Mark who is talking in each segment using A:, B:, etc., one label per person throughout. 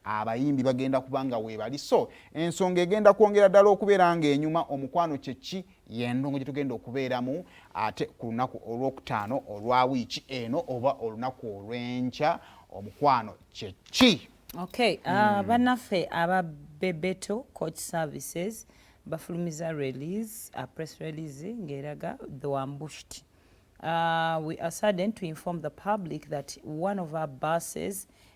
A: abayimbi bagenda kuba nga weebali so ensonga egenda kwongera ddala okubeera ng'enyuma omukwano kye ki y'endongo gye tugenda okubeeramu ate ku lunaku olwokutaano olwa wiiki eno oba olunaku olw'enkya omukwano kye ki okay uh, hmm.
B: bannaffe aba bebeto coach services bafulumiza release uh, press release ng'eraga the wambushed uh, we are sudden to inform the public that one of our buses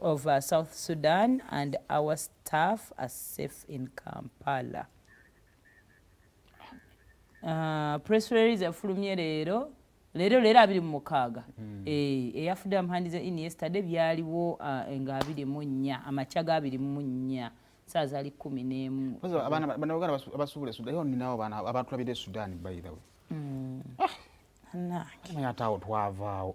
B: of South Sudan and our staff are safe in Kampala. Uh, press release efulumye leero leero leero abiri mu mukaaga hmm. eh, eyafudde amuhandize in yesterday byaliwo uh, nga abiri mu nnya amakya ga abiri mu nnya saa zali kumi n'emu banauganda
A: abasuubula esudan yo ninawo baana abatulabira esudan bayidawe hmm. ah. naye ate awo twavaawo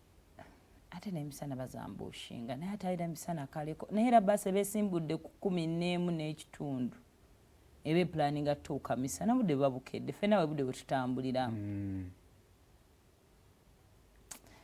B: ate nemisana bazambushinga naye ate alina misana kaleko naye era basi ebesimbudde ku kumi neemu n'ekitundu eba epulaninga tutuuka misana budde buba bukedde fena webudde bwetutambulira mm.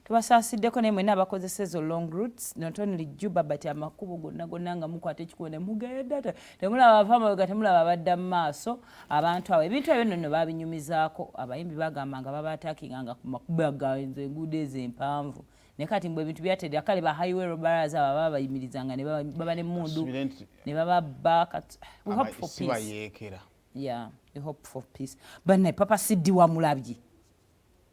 B: tubasasiddeko naye mwena abakozesa ezo long roots not only juba but amakubo gonna gonna nga mukwata ekikubo nemugeenda temulaba avamabega temulaba abadda mu maaso abantu abo ebintu ebyo nonno babinyumizaako abayimbi bagamba nga babaatakinga nga kumakubaganze enguudo ezo empanvu naye kati mbu ebintu byatedera kale ba highway robbers abo baba bayimirizanga nebaba ne mundu nebababba sibayeekera yeah we hope for peace bannaye papa siddi wamulabye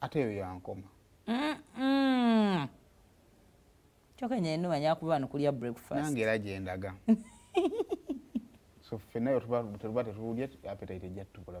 A: ate eyo yankoma
B: kyoka nyenuma nyakuba wano kulya breakfast nange era gyendaga
A: so ffe nayo tetuba tetulya apetite ejja tukula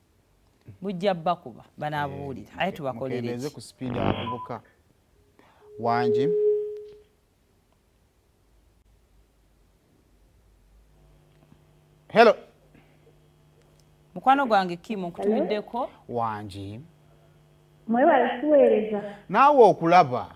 B: bujja bakuba banabuwulira aye tubakolereze ku sipiidi abavubuka
A: wangi hello
B: mukwano gwange kimu nkutumiddeko wangi
C: mwebale tuweereza naawe okulaba